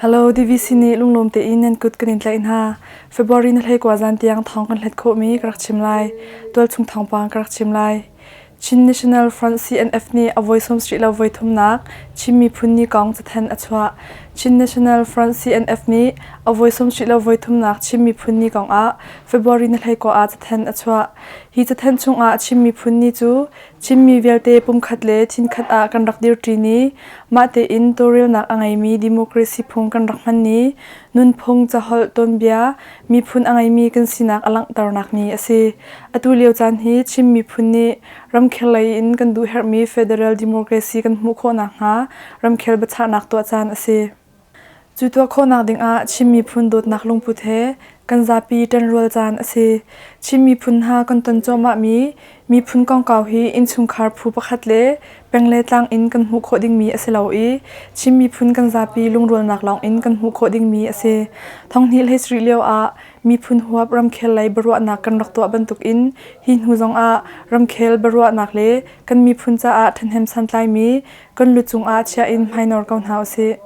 Hello DVC ni lunglawm te in nan kut kan in tlai hna. February na hlei kwa zan tiang thong kan hlet kho mi ka rak chim lai. Tual chung thong pang ka rak chim lai. Chin National Front CNF ni a voi sawm sri lo voi thum nak Chin miphun ni kong cathen a chuah. Chin National Front CNF ni a voi sawm sri lo voi thum nak Chin miphun ni kong ah February na hleikua ah cathen a chuah. Hi cathen chungah a chim miphun ni cu Chinmi vialte pumkhat le thinkhat ah kan rak dirṭi ni, mahtein tawlrelnak a ngeimi democracy phung kan rak hman ni, nunphung, caholh, tuanbia, miphun a ngeimi kan sinak a langhternak ni a si. Atu lio caan hi Chin miphun nih ramkhel lei in kan duhherhmi federal democracy kan hmuh khawh nakhnga ramkhel biachahnak tuah caan a si. Cu tuah khawhnak dingah Chin miphun dawtnak lungput he kan zapi ṭanrual caan a si. Chin miphun hna kan ton cuahmahmi miphun kongkau hi innchungkhar phu pakhat le peng le tlang in kan hmuh khawh dingmi a si lo i Chin miphun kan zapi lungrualnak lawngin kan hmuh khawh dingmi a si. Thonghnih hlei sarih lioah miphun huap ramkhel lei biaruahnak kan rak tuah bantukin hi hnu zongah ramkhel biaruahnak le kan miphun caah ṭhahnem santlaimi kan lu cungah chiah in hmainor ko hna usih.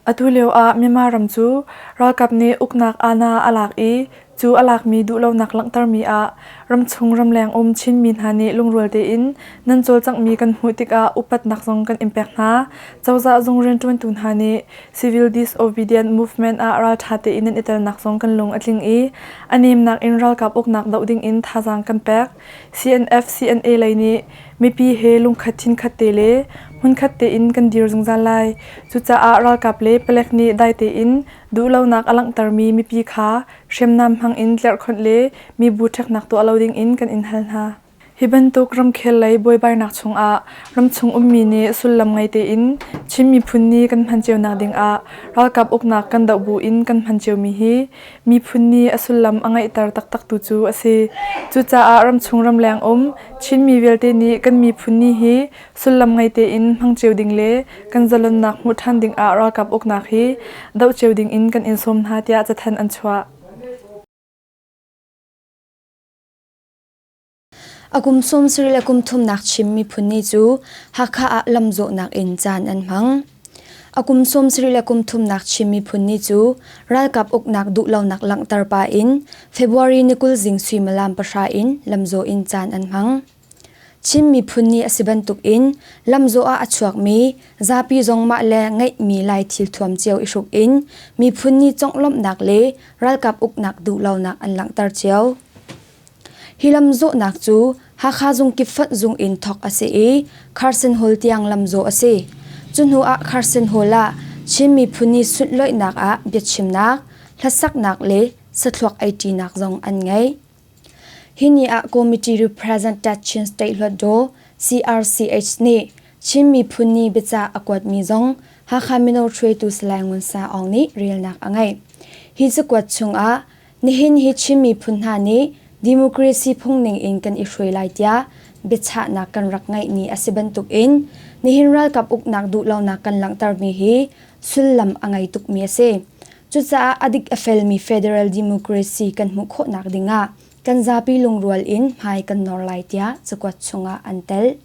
Atu lioah Myanmar ram cu ralkap nih uknak aana a lak i cu a lakmi duhlonak langhtermi ah ramchung ramleng um Chinmi hna nih lungrual tein nan cawlcanghmi kan hmuh tikah upatnak zong kan in pek hna. Cozah zung rianṭuantu hna nih Civil Disobedient Movement ah ralṭha tein nan i telnak zong kan lung a tling i a nemnak in ralkap uknak doh dingin thazaang kan pek. CNF CNA lei nih mipi he lungkhat chinkhat te le hmunkhat tein kan dir zungzal lai. Cucaah ralkap le palek nih dai tein duhlonak a langhtermi mipi kha hriamnam hmang in tlerhkhonh le mibu ṭheknak tuah lo dingin kan in hal hna. Hi bantuk ramkhel lei buaibainak chungah ramchung ummi nih sullam ngei tein Chin miphun ni kan hman cionak dingah ralkap uknak kan doh bu in kan hman ciomi hi miphun nih a sullam a ngeihter taktaktu cu a si. Cucaah ramchung ramleng um Chinmi vialte nih kan miphun ni hi sullam ngei tein hmang cio ding le kan zalonnak hmuh ṭhan dingah ralkap uknak hi doh cio dingin kan in sawm hna tiah cathanh an chuah. A kum sum sarih le kum thumnak Chin miphun ni cu Hakha ah lamzawhnak in caan an hmang. A kum sum sarih le kum thumnak Chin miphun ni cu ralkap uknak duhlonak langhter pa in February ni kul zing suimilam pahra in lamzaw in caan an hmang. Chin miphun ni a si bantuk in lamzaw ah a chuakmi zapi zong mah le ngeihmi lai thil thuam cio i hruk in miphun ni conglawmhnak le ralkap uknak duhlonak an langhter cio. Hi lam zawhnak cu Hakha zung kipfonh zung in thawk a si i Carson Hall tiang lam zawh a si. Cu hnu ah Carson Hall ah Chin miphun ni sunhlawihnak ah biachimnak, hlasaknak le sathluak eiṭinak zong an ngei. Hi ni ah Committee Representative Chin State Hluatdaw CRCH nih Chin miphun ni biacah a kuatmi zong Hakha mino hruaitu Salai Ngun Sa Aung nih relnak a ngeih. Hi cakuat chung ah Nihin hi Chin miphun hna nih democracy phungning in kan i hruai lai tiah biachahnak kan rak ngeih ni a si bantuk in nihin ralkap uknak duhlonak kan langhtermi hi sullam a ngei tukmi a si. Cucaah a dik a felmi federal democracy kan hmuh khawhnak dingah kan zapi lungrual in hmai kan nawr lai tiah cakuat chungah an telh.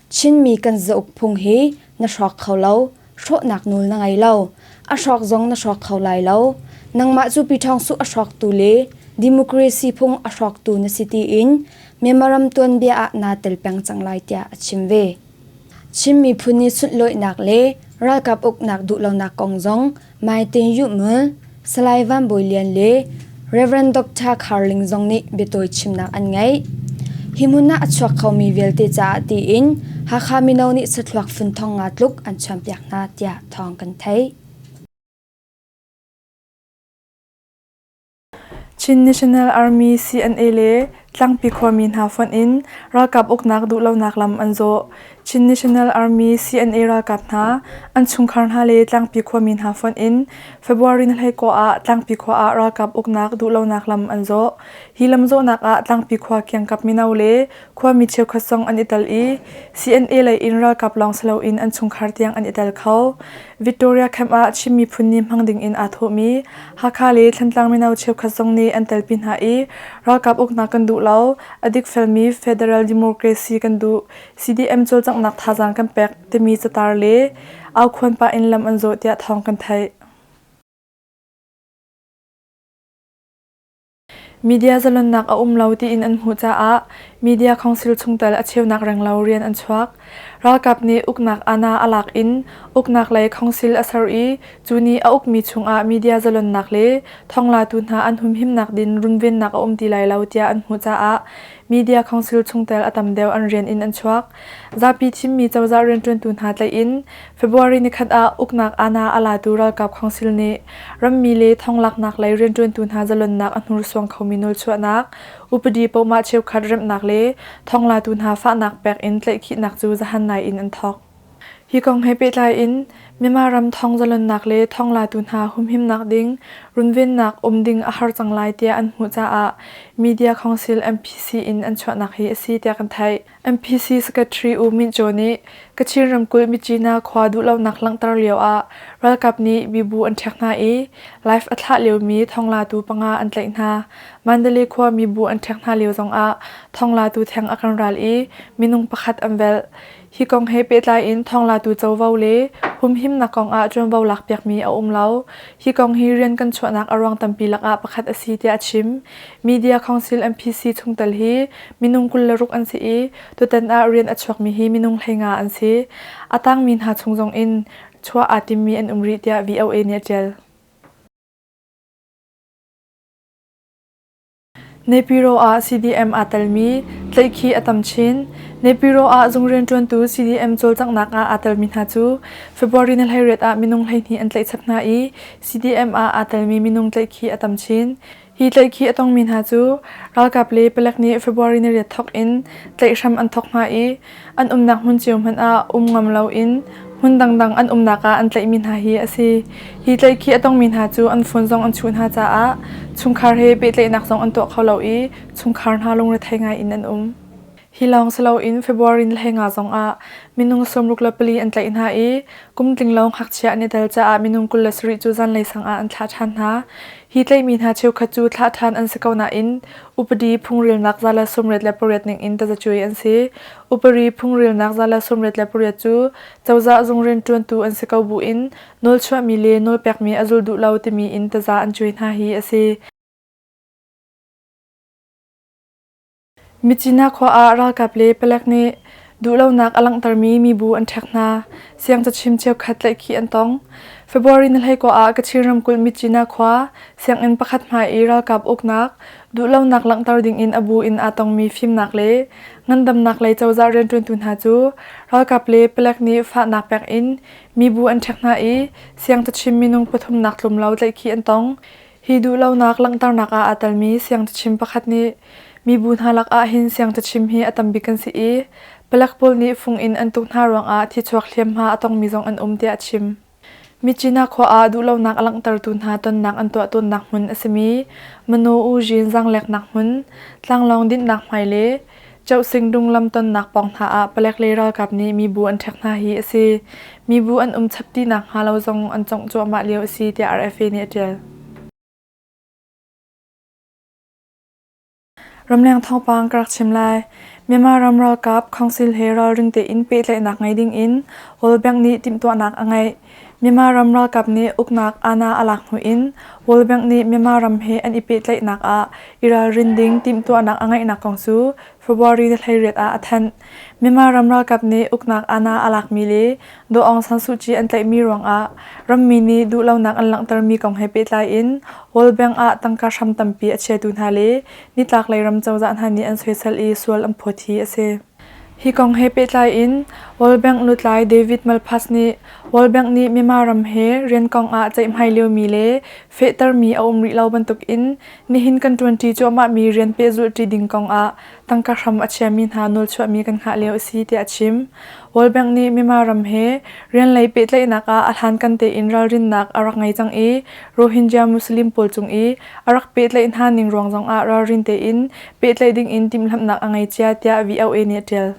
Chinmi kan zauk phung hi na hrawk kho lo. Hrawhnak nawl na ngei lo. A hrawk zong na hrawk kho lai lo. Nangmah cu piṭhawngsuh a hrawktu le democracy phung a hrawktu na si tiin Memorandum tuanbia ah naa tel peng cang lai tiah a chim ve. Chin miphun i sunhlawihnak le ralkap uknak duhlonak kong zong Mai Tin Yuhmul, Salai Van Bawi Lian le Rev. Dr. Khar Ling zong nih biatawi chimnak an ngeih. Hi hmun ah a chuak khomi vialte caah tiin Hakha mino nih sathluak fun thong nga tluk an chuanpiak hna tiah thawng kan theih. Chin National Army CNA le Tlangpi khuami hna fonh in ralkap uknak duhlonak lam an zawh. Chin National Army CNA ralkap hna, an chungkhar hna le Tlangpi khuami hna fonh in February hleikawh ah Tlangpi khua ah ralkap uknak duhlonak lam an zawh. Hi lam zawhnak ah Tlangpi khua kiangkap mino le Khuami cheukhat zong an i tel i CNA lei in ralkap lawng si loin an chungkhar tiang an i tel kho. Victoria camp ah Chin miphun nih hmang dingin aa thawhmi Hakha le Thantlang mino cheukhat zong nih an telpi hna i ralkap uknak kan duh lo, a dikfelmi Federal Democracy kan duh, CDM cawlcanghnak thazaang kan pek timi catar le au khuan pah in lam an zawh tiah thawng kan theih. Media zalonnak a um lo tiin an hmuh caah media council chungtel a cheunak renglo rian an chuak. Ralkap nih uknak ana a lak in uknak lei council a ser i cu nih a ukmi chungah media zalonnak le thonglatu hna an humhimnak din runvennak a um ti lai lo tiah an hmuh caah Media council chungtel a tam deuh an rian in an chuak. Zapi thimmi cozah rianṭuantu hna tlaih in February ni khat ah uknak ANA a latu ralkap council nih rammi le thonglaknak lei rianṭuantu hna zalonnak a hnursuang khomi nawlchuahnak, upadi pohmah cheukhat remhnak le thonglatu hna fahnak pek in tlaihkhihnak cu zahan ngai in an thawk. Hi kong he pehtlai in Myanmar ram thawngzalonnak le thawnglatu hna humhimnak ding runvennak um ding a har cang lai tiah an hmuh caah Media Council MPC in an chuahnak hi a si tiah kan theih. MPC Secretary U Myint Jae nih Kachin ramkulh Myitsina khua duhlonak langhter lio ah ralkap nih mibu an ṭhek hna i live a thlah liomi thawnglatu panga an tlaih hna. Mandalay khua mibu an ṭhek hna lio zongah thawnglatu theng a kan ral i minung pakhat an velh. Hi kong he pehtlai in thawnglatu covo le humhimnak kong ah ṭuanvo lakpiakmi a um lo. Hi kong hi rian kan chuahnak a ruang tampi lakah pakhat a si tiah a chim. Media Council MPC chungtel hi minung kul le ruk an si i tutan ah rian a chuakmi hi minung hleinga an si. A tangmi hna chung zong in chuah aa timmi an um rih tiah VOA nih a ṭial. Nepiro ah CDM aa telmi tlaihkhih a tam chin. Nepiro ah zung rianṭuantu CDM cawlcanghnak ah aa telmi hna cu February ni hleiriat ah minung hleihnih an tlaih chap hna i CDM ah aa telmi minung tlaihkhih a tam chin. Hi tlaihkhih a tongmi hna cu ralkap le palek nih February ni riat thawk in tlaih hram an thawk hna i an umnak hmun cio hmanh ah um ngam loin hmun dangdang an umnak ah an tlaihmi hna hi a si. Hi tlaih khi a tongmi hna cu an phone zong an chuh hna caah chungkhar he pehtlaihnak zong an tuah kho lo i chungkhar hna lungrethei ngai in an um. Hi lawng si loin February ni le nga zong ah minung sawmruk le pali an tlaih hna i kum tlinglo ngakchia an i tel caah minung kul le sarih cu zanlei sang ah an thlah ṭhan hna. Hi tleimi hna cheukhat cu thlah ṭhan an si ko nain upadi phungrilnak za le sawmriat le pariat ningin tazacuai an si. Upari phungrilnak za le sawmriat le pariat cu cozah zung rianṭuantu an si ko buin nawlchuahmi le nawlpekmi a zul duh lo timi in taza an cuai hna hi a si. Micina khua ah ralkap le palek nih duhlonak a langhtermi mibu an ṭhek hna. Siangcachim cheukhat tlaihkhih an tong. February ni hlei kua ah Kachin ramkulh Micina khua sianginn pakhat hmai i ralkap uknak, duhlonak langhter dingin a bu in aa tongmi fimnak le ngandamnak lei cozah rianṭuantu hna cu ralkap le palek nih fahnak pek in mibu an ṭhek hna i siangcachim minung pathumnak tlumlo tlaihkhih an tong. Hi duhlonak langhternak ah aa telmi siangcachim pakhat nih mibu hna lakah hin siangcachim hi a tambik an si i palek pawl nih fung in an tuk hna ruangah thichuak hliamhma a tongmi zong an um tiah a chim. Micina khua ah duhlonak a langhtertu hna tonnak an tuah tawnnak hmun a simi Mano U Zhin zaangleknak hmun, tlanglawng dinhnak hmai le Chohsing dunglam tonnak pawng hna ah palek le ralkap nih mibu an ṭhek hna hi a si. Mibu an um chap ti nakhnga lo zong an congh cuahmah lio a si tiah RFA nih a ṭial. Ramleng thawngpang ka rak chim lai. Myanmar ram ralkap council he ralring tein pehtlaihnak ngei ding in World Bank nih timhtuahnak a ngeih. Myanmar ram ralkap nih uknak Ana a lak hnu in World Bank nih Myanmar ram he an i pehtlaihnak ah i ralrin ding timhtuahnak a ngeihnak kong cu February ni hleiriat ah a thanh. Myanmar ram ralkap nih uknak Ana a lakmi le Daw Aung San Suu Kyi an tlaihmi ruangah rammi nih duhlonak an langhtermi kong he pehtlai in World Bank ah tangka hram tampi a chiatu hna le nitlaklei ram cozah hna nih an soisel i sual an phawt hi a si. Hi kong he pehtlai in World Bank lutlai David Malpass nih World Bank nih Myanmar ram he riankong ah ceihmai liomi le fehtermi a um rih lo bantuk in nihin kan ṭuanṭi cuahmahmi rian pehzulhṭi ding kong ah tangka hram a chiami hna nawlchuahmi kan hngah lio a si tiah a chim. World Bank nih Myanmar ram he rian lei pehtlaihnak ah a hlankan tein ralrinnak a rak ngei cang i Rohingya Muslim pawl cung i a rak pehtlaih hna ning ruang zong ah ralrin tein pehtlaih dingin timhlamhnak a ngei cia tiah VOA nih a ṭial.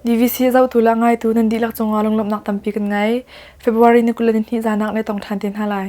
DVC zohtu le ngaitu nan dihlak cungah lunglawmhnak tampi kan ngei. February ni kul le nihnih zanak le tong ṭhan te hna lai.